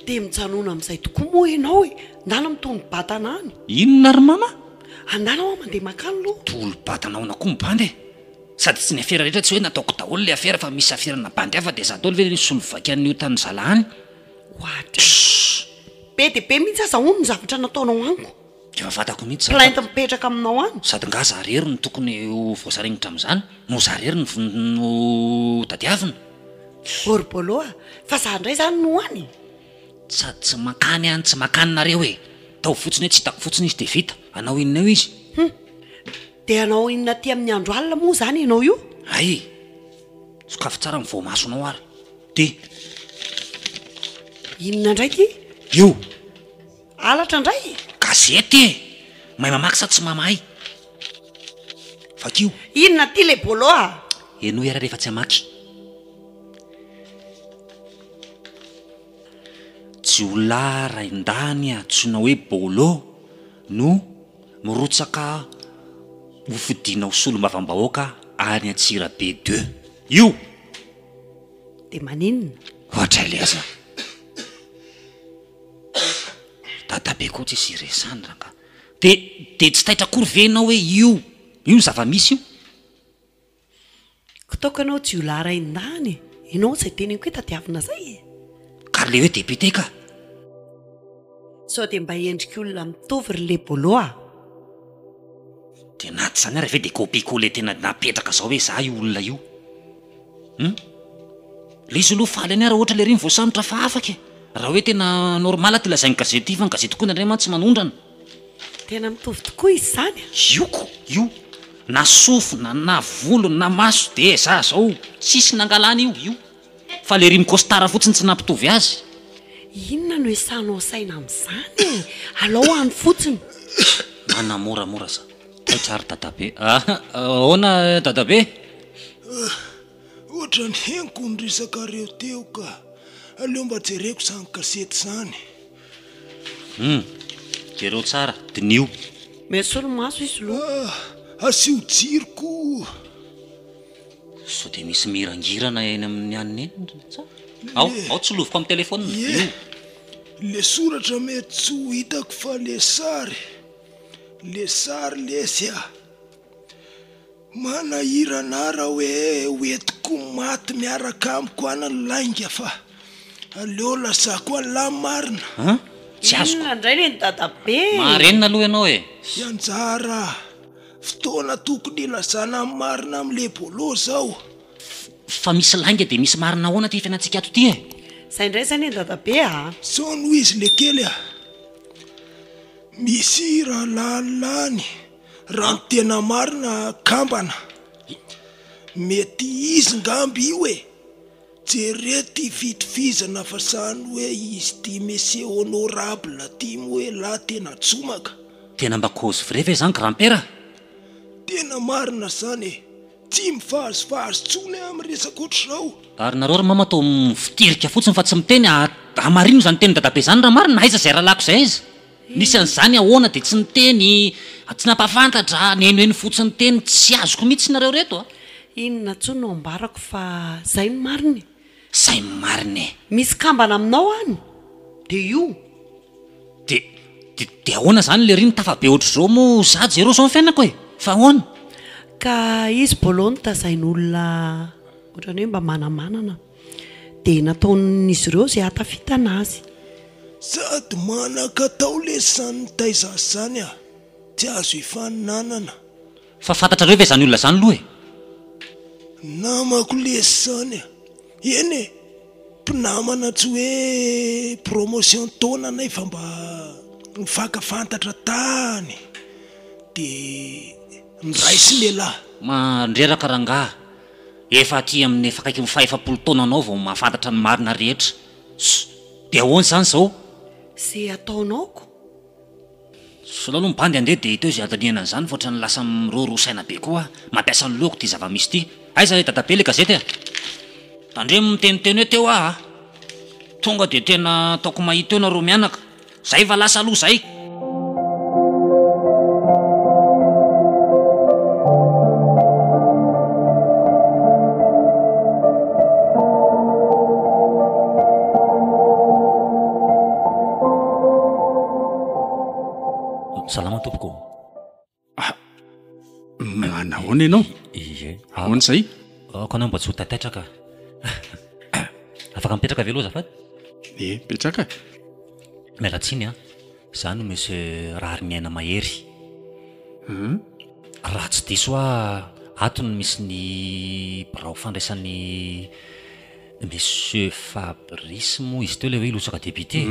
Dia mijanona amin'izay tokoa moa ianao e! Andala mitohy ny batana any. Inona ry mama? Andala hoa mandeha mankany aloha. Tolo-batana ahoana koa ny bandy e? Sady tsy ny afera rehetra tsy hoe nataoko daholo ilay afera fa misy aferana bandy hafa dia izaho daholo ve ilay nisolo vaika an'i io tanin'zala any? Oadii. Be dia be mihitsy aza hono ny zavatra nataonao amiko. Efa fantako mihitsy izany fa. Plainte mipetraka aminao any. Sady nga za rery no tokony ho voasaringotra amin'izany no za rery no tadiavina? Borobolo a! Fa za ndray zany no any? Sady tsy mankany any tsy mankany nareo e! Ataovy fotsiny hoe tsy hitako fotsiny izy dia vita! Hanao inona eo izy? Hum! Dia hanao inona aty amin'ny andro alina moa izany ianao io? Hay e! Sokafy tsara ny voamasonao ary dia. Inona indray ity? Io! Halatra ndray? Gazety e! Mahay mamaky sa tsy mamahay? Vakio. Inona ty le bolo a? Henoy ary rehefa tsy hamaky. Jiolahy raindahiny antsoina hoe Bolo no mirotsaka ho fidiana ho solombavambahoaka any Antsirabe deux. Io! Dia maninona? Ohatra ilay aza. Dadabe koa tsisy iresany rangah. De de tsy taitra akory ve enao hoe io io ny zavamisy io? Kitaoko enao jiolahy ray ndany e! Enao zay teneniko hoe tadiavina zay e! Ka ry le hoe député ka! Sao dia mba endrik olona mitovy ry le bolo a! De na tsy zany ary ve de copie coller tena napetraka zao hoe za io olona io. Hum. Ilay izy aloha faly any ary ohatra ilay iry mivoasambotra fa afaka e! Raha hoe tena normal ty lazain'ny gazety ty fa ny gazety koa indraindray mantsy manondrana. Tena mitovy tokoa izy izany a! Io ko io! Na sofina, na volo, na maso dia za izao! Tsisy nangalana io, io! Fa ilay iry mi-costard fotsiny tsy nampitovy azy. Inona no esahanao saina amin'izany e! Alao any fotsiny! Manamoramora za. Taitra ry dadabe ah! Ahoana dadabe? Ah! Ohatran'ny henoko ny resakareo teo ka! Aleo mba jereko izany gazety izany. Hum! Jereo tsara, diniho. Mety solomaso izy lo. Ah! Asio jiro koa! Sao dia misy mirangirana eny amin'ny an'ny eny sa? Ao, ao tsiloviko amin'ny telefaonina, io. Ilay soratra mety tsy ho hitako fa ilay sary. Le sary lesy a! Manahirana ahy raha hoe ho entiko ho maty miaraka amiko any ny lainga fa aleo lazako an'lah marina. An? Tsy azoko. Inona indray le ny dadabe e? Marenina aloha ianao e! Hianjara a! Fotoana tokony hilazana ny marina amin'le Bolo izao. Fa misy lainga dia misy marina ahoana ity fiainantsika ato ity e? Izay indray izay le ny dadabe a! Sao noho izy le kely a! Misy rahalalina any raha ny tena marina kambana, mety izy ngamba io e, jereo ty fitovizana fa zany hoe izy ty Monsieur Honorable ty moa elah tena jomaka. Tena mba cause vraie ve zany grand-père? Tena marina zany e. Tsy mivazivazy tsony aho amin'ny resaka ohatr'izao. Ary nareo ry mama toa mivotirika fotsiny fa tsy miteny a hamarino izany tenin'i dadabe izany raha marina, aiza izay rahalahiko izay aiza nisy an'izany ahoana dia tsy niteny a tsy nampafantatra a nihenoheno fotsiny teny tsy azoko mihitsy nareo reto a. Inona tsoa no ambarako fa zay no marina e! Zay no marina e! Misy kambana aminao any de io. De, de, de ahoana zany lery ny tafabe otrzao moa za jereo zao ny fiainako e! Fa ahoana? Ka izy bolo nitazain olona otrany hoe mba manamanana de nataon'izy ireo zay hatafitana azy. Sady manakatao lesy zany nitaiza azy zany a! Tsy azo hifaninanana. Fa fantatrareo ve zany olona zany loha e? Namako lesy zany a! Eny e! Mpinamana tsy hoe promotion taona nefa mba nifaka fantatra tany de niraisin'elah. Mandreraka rangaha, efa aty amin'ny efa akaiky ny fahefapolo taona anao vao mahafantatra ny marina rehetra. Ss! De ahoana izany izao? Ze ataonao ko. Solao aloha ny bandy andeha dia teo izay andinihana an'izany fa ohatran'ny lasa miroro saina be koa aho. Mampiasa ny lohako ity zava-misy ity. Aiza ry dadabe ilay gazety e? Tandremo miteniteny hoe teo aho a! Tonga dia tena ataoko mahita eo nareo mianaka. Zay fa lasa aloha zay! salama tompoko ah, manahoana ianao ie ahoana izay ako anao mba tsy ho tataitraka afaka mipetraka ave loha zafady e mipetraka miala tsiny a ah. za no monsieur rahary miaina mahery hmm? raha tsy diso hoa atony misy ny birao fandraisan'ny Monsieur Fabrice moa izy teo ilay hoe hilotsaka député?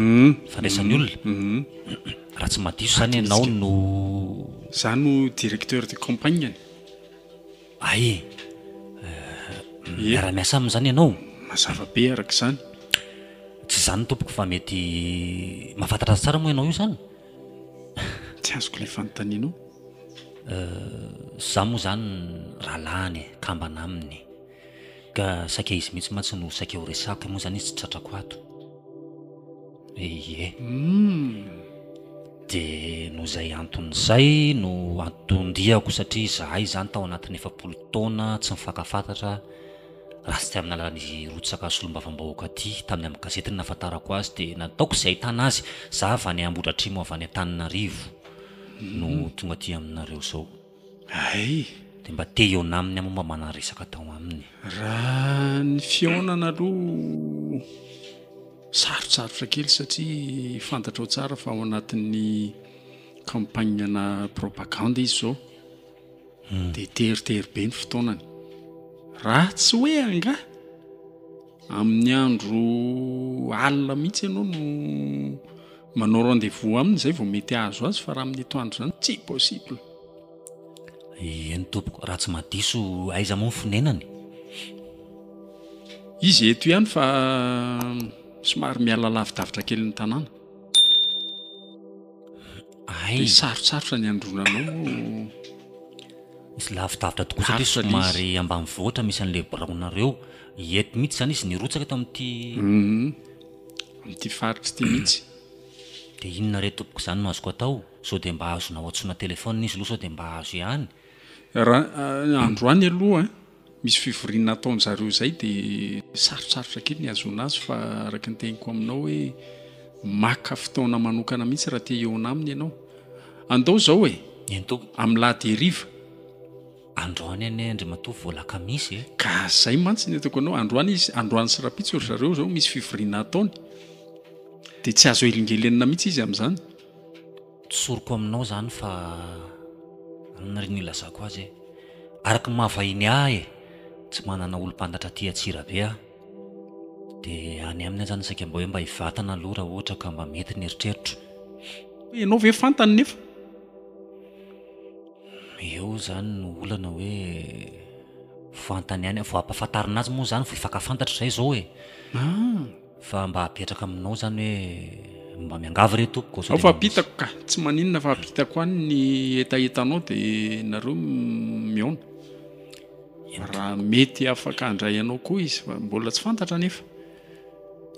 Fandraisan'ny olona? Raha tsy mahadiso izany ianao no. Izaho no directeur de campagne-ny. Ay e! Miara-miasa aminy izany ianao? Mazava be araka izany. Tsy izany tompoko fa mety mahafantatra azy tsara moa ianao io izany? Tsy azoko ilay fanontanianao. Izaho moa izany rahalahiny e, kambana aminy. Ka saika izy mihitsy mantsy no saika ho resako, moa izany izy tsy tratrako ato. Ie. Hum. Dia noho izay antony izay no anton-diako satria izahay izany tao anatin'ny efapolo taona tsy nifankafantatra raha tsy tamin'ny alalan'izy rotsaka solombavambahoaka ity, tamin'ny amin'ny gazety no nahafantarako azy dia nataoko izay ahitana azy, izaho avy any Ambohidratrimo avy any Antananarivo no tonga aty aminareo izao. Hay! Dia mba te hihaona aminy aho moa mba manaresaka atao aminy e! Raha ny fihaonana aloha sarotsarotra kely satria fantatrao tsara fa ao anatin'ny campagne-na propagande izy izao dia teritery be ny fotoanany. Raha tsy hoe angaha Amin'ny andro alina mihitsy ianao no manao rendez-vous aminy izay vao mety hahazo azy fa raha amin'ny atoandro izany tsy possible. Eny tompoko, raha tsy mahadiso aiza moa ny fonenany? Izy eto ihany fa somary miala lavidavitra kely ny tanàna. Hay. Dia sarotsarotra ny handroana anao moa. Misy lavidavitra tokoa satria somary ambanivohitra misy an'ilay biraonareo. Ieto mihitsy izany izy nirotsaka tao amin'ity. Amin'ity faritra ity mihitsy. Dia inona re tompoko izany no azoko atao? Sao dia mba azonao antsoina telefaonina izy aloha sao dia mba azo ihany. Raha androany aloha misy fivoriana ataon-dry zareo izay dia sarotsarotra kely ny hahazoana azy fa araka ny teniko aminao hoe maka fotoana manokana mihitsy raha te hihaona aminy ianao. Andao izao e! Eny tompoko. Amin'ny lahady heriva. Androany anie Andriamatoa vao lakamisy e! Ka zay mantsy ny ataoko anao, androany izy, androany sy rapitso ry zareo zao misy fivoriana ataony, dia tsy azo helingelenina mihitsy izy amin'izany. Tsoriko aminao izany fa inona ry ny ilazako azy e! Araka ny maha vahiny ahy e! Tsy manana olom-pantatra aty Antsirabe aho, dia any aminy aho izany saika mba hoe mba hivatana aloha raha ohatra ka mba mety ny eritreritro. Ianao ve fantany nefa? Eo izany no olana hoe fantany ihany, vao ampahafantarina azy moa izany vao hifankafantatra izay izao e. Ah. Fa mba apetraka aminao izany hoe mba miangavy re tompoko. Ao fa apitako ka, tsy maninona fa apitako any ny hetahetanao dia nareo mihaona. Raha mety afaka handray anao koa izy fa mbola tsy fantatra nefa.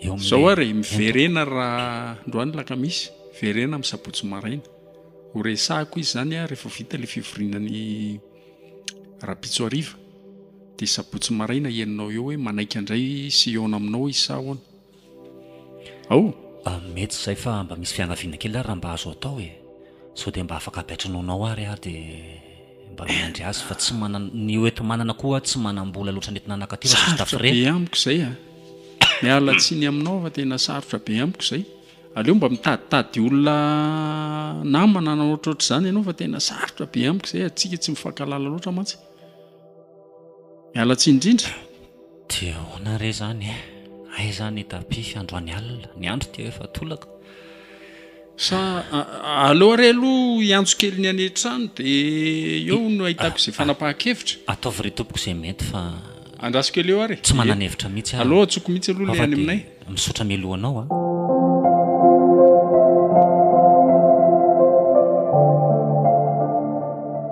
Eo amin'izao ary miverena raha androany lakamisy, miverena amin'ny sabotsy maraina. Ho resahiko izy zany a refa vita le fivoriana ny rapitso hariva de sabotsy maraina henonao eo hoe manaiky andray sy hihaona aminao izy sa ahoana? Ao! Mety izay fa mba misy fiangaviana kely ary raha mba azo atao e! Sao dia mba afaka ampy antranoanao ary aho dia mba miandry azy fa tsy manana, ny hoenti-manana koa tsy manam-bola loatra nentina naka aty fa sisa tafo re! Sarotra be amiko izay a! Miala tsiny aminao fa tena sarotra be amiko izay! Aleo mba mitaditady olona namana na ohatrohatr'izany ianao fa tena sarotra be amiko izay, antsika tsy mifankahalala loatra mantsy. Miala tsiny indrindra. Dia ahoana re izany e? Aiza ny tapis androany alina? Ny andro dia efa tolaka. Sa aleo ary aloha hiantso kely ny any an-trano dia eo no ahitako izay fanapahan-kevitra? Ataovy re tompoko izay mety fa. Andraso kely eo ary e. Tsy manana hevitra mihitsy aho. Aleo antsoiko mihitsy aloha ilay any aminay. Misaotra mialoha anao a.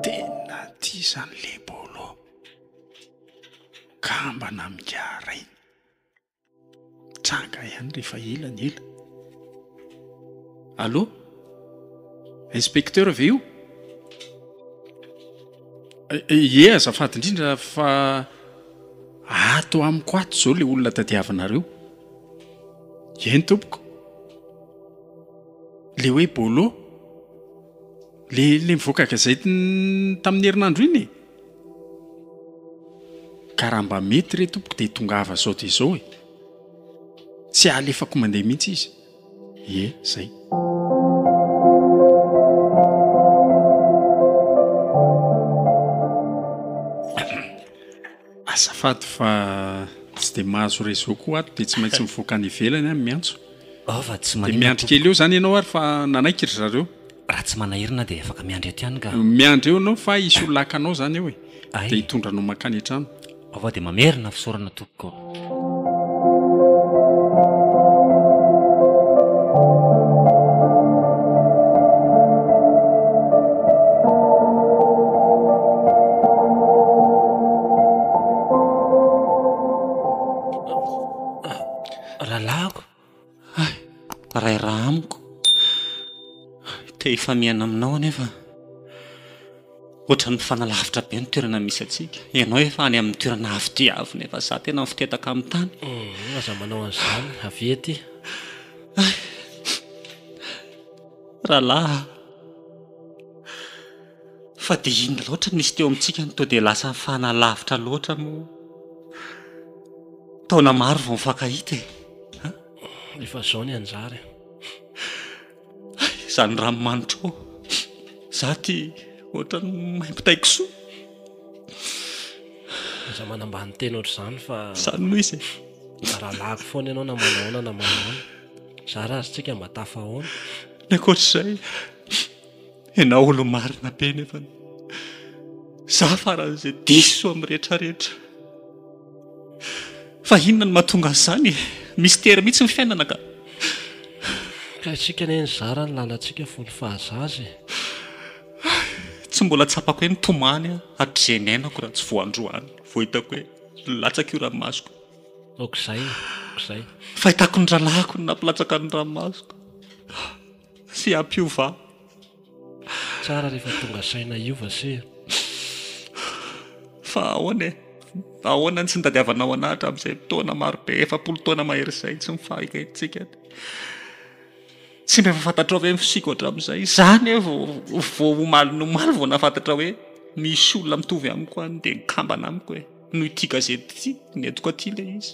Tena tia zany le bolo kambana migara iny. Mitranga ihany rehefa ela ny ela. Allô? Inspecteur ve io? Ye azafady indrindra fa ato amiko ato zao le olona tadiavinareo eny tompoko le hoe bolo le le mivoaka gazety tamin'ny herinandro iny e ka raha mba mety re tompoko de tongava sao de zao e tsy alefako mandeha mihitsy izy Ie, zay. Azafady fa tsy dia mahazo réseau koa ato dia tsy maintsy mivoaka any ivelany aho miantso. Oh, fa tsy maninona. Dia miandry kely eo zany ianao ary fa nanaiky ry zareo. Raha tsy manahirana dia afaka miandry aty ihany ka. Miandry eo ianao fa hisy ho lakanao zany eo e. Dia hitondra anao mankany an-trano. Avao dia mamerina fisaorana tompoko. Hay! Rairaha amiko. Te hifamihana aminao anefa ohatran'ny mifanalavitra be ny toerana misy antsika. Ianao efa any amin'ny toerana avo dia avo nefa za tena mifotetaka amin'ny tany. Hum, aza manao an'izany, avia aty. Hay! Rahalahy a! Fa dia inona loatra no nisy teo amintsika no toa dia lasa nifanalavitra loatra moa? Taona maro vao nifankahita e! An! Efa izao ny anjara e! Hay, izany ranomanitro ao! Izaho ity ohatran'ny maimbo tay kisoa! Aza manambany teny ohatr'izany fa. Izany moa izy e! Rahalahiko foana ianao na manao ahoana na manao ahoana. Zara ary tsika mba tafahaona. Ny ankoatr'izay. Ianao olo-marina be nefa za faran'izay diso amin'ny rehetra rehetra. Fa inona no mahatonga an'izany e? Mystère mihitsy ny fiainana ka. Ka isika anie nizara ny lalantsika fony fahazaza e. Tsy mbola tsapako hoe nitomany aho hatrizay niainako raha tsy vao androany vao hitako hoe nilatsaka io ranomasoko io. Aok'izay, aok'izay. Fahitako ny rahalahiko no nampilatsaka ny ranomasoko. Tsy ampiova. Tsara rehefa tonga saina hiova se. Fa ahoana e? Ahoana ny tsy nitadiavanao anah hatramin'izay taona maro be, efapolo taona mahery izay, tsy nifahigahintsika? Tsy mba efa fantatrao ve ny fisiako hatramin'izay? Izaho anie vao omaly nomaly vao nahafantatra hoe misy olona mitovy amiko any dia nikambana amiko e! Noho ity gazety ity no entiko aty ilay izy.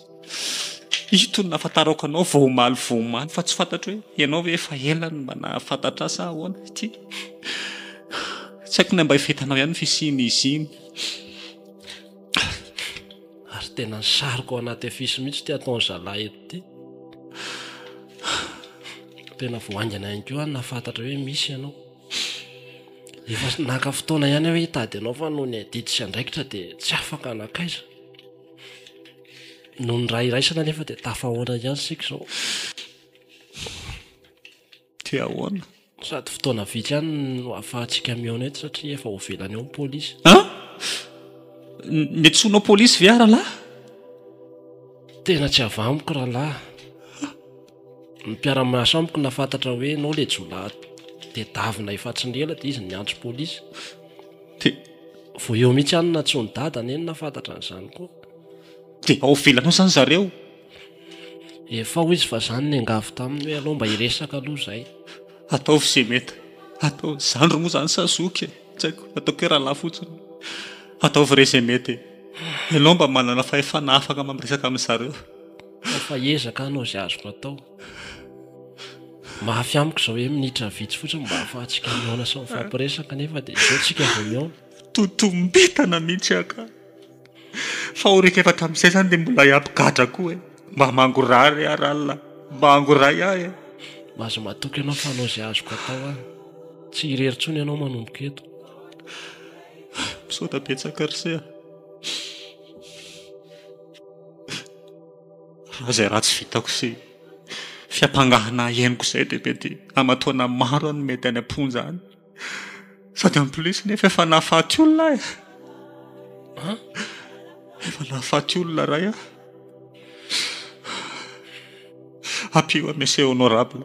Ito no nahafantarako anao vao omaly vao omaly fa tsy fantatro hoe ianao ve efa ela no mba nahafantatra ahy sa ahoana ity. Tsy haiko na mba efa hitanao ihany ny fisian'izy iny. Ary tena nisarika ao anaty afisy mihitsy ity ataon'i zalahy eto ity. Tena vao haingana ihany koa aho no nahafantatra hoe misy ianao. Efa naka fotoana ihany aho hitady anao fa noho ny adidy sy andraikitra dia tsy afaka nankaiza. Noho ny ra iraisana anefa dia tafahoatra ihany isika izao. Dia ahoana? Sady fotoana vitsy ihany no ahafahantsika mihaona eto satria efa ho velany ao ny polisy. An! Ny antsoinao polisy ve aho rahalahy? Tena tsy avy amiko rahalahy. Ny mpiara-miasa amiko nafantatra hoe ianao ilay jiolahy tedavina efatsin'ny ela dia izy no niantso polisy. Dia vao eo mihitsy ihany no nantsoin'i Dada neny nafantatra an'izany koa. Dia ao ivelany ao izany zareo? Efa hoy izy fa izaho no niangavy taminy hoe alao mba hiresaka aloha izay. Ataovy izay mety hatao. Zandry moa izany sa zoky e? Tsy haiko, ataoko hoe rahalahy fotsiny. Ataovy re izay mety e. Ianao mba manana fahefana afaka mamiresaka amin'izareo. fa ezaka hanao izay azoko atao mafy amiko izao hoe minitra vitsy fotsiny mba hahafahantsika mihaona sy mifampiresaka nefa dia izao tsika vao mihaona totombetana mihitsy aka fa ho rehefa tamin'izay zany dia mbola hiampy gadra koa e mba mangorahy re ary alina mba angorahy ahy e mba aza matoky ianao fa hanao izay azoko atao aho tsy irery tsony ianao manomboka eto misaoda betsaka ry seha Raha izay ratsy vitako sy fiampangana henoko izay dia mety aman-taona maro aho no mety any am-ponja any. Sady en plus nefa efa nahafaty olona aho e. Efa nahafaty olona iray aho. Ampio aho Monsieur Honorable.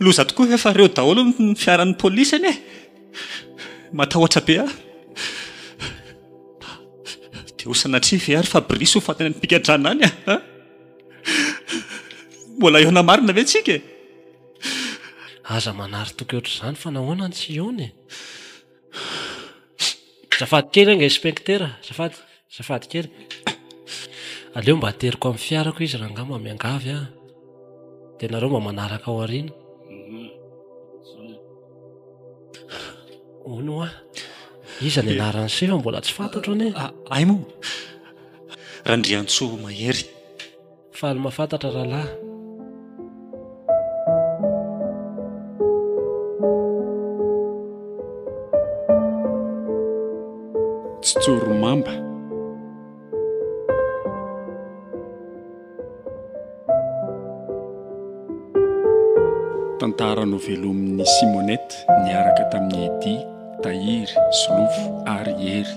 Loza tokoa efa reo daholo ny fiaran'ny polisy anie e! Matahotra be aho. Dia ho sanatria ve ary Fabrice ho faty any am-pigadrana any a! Mbola hihaona marina ve tsika e! Aza manary toky ohatr'izany fa nahoana ny tsy hihaona e! Azafady kely anga inspektera, azafady, azafady kely. Aleo mba ateriko amin'ny fiarako izy rangahy mba miangavy an! Dia nareo mba manaraka ao aoriana. Hono hoa, iza ny anaran'i Siva mbola tsy fantatro anie? Hay moa! Randriantsoa Mahery. Faly mafantatra rahalahy. Tsy tsorimamba. Tantara novelomin'i Simonette niaraka tamin'i Eddy, Tahiry, Solofo ary Hery.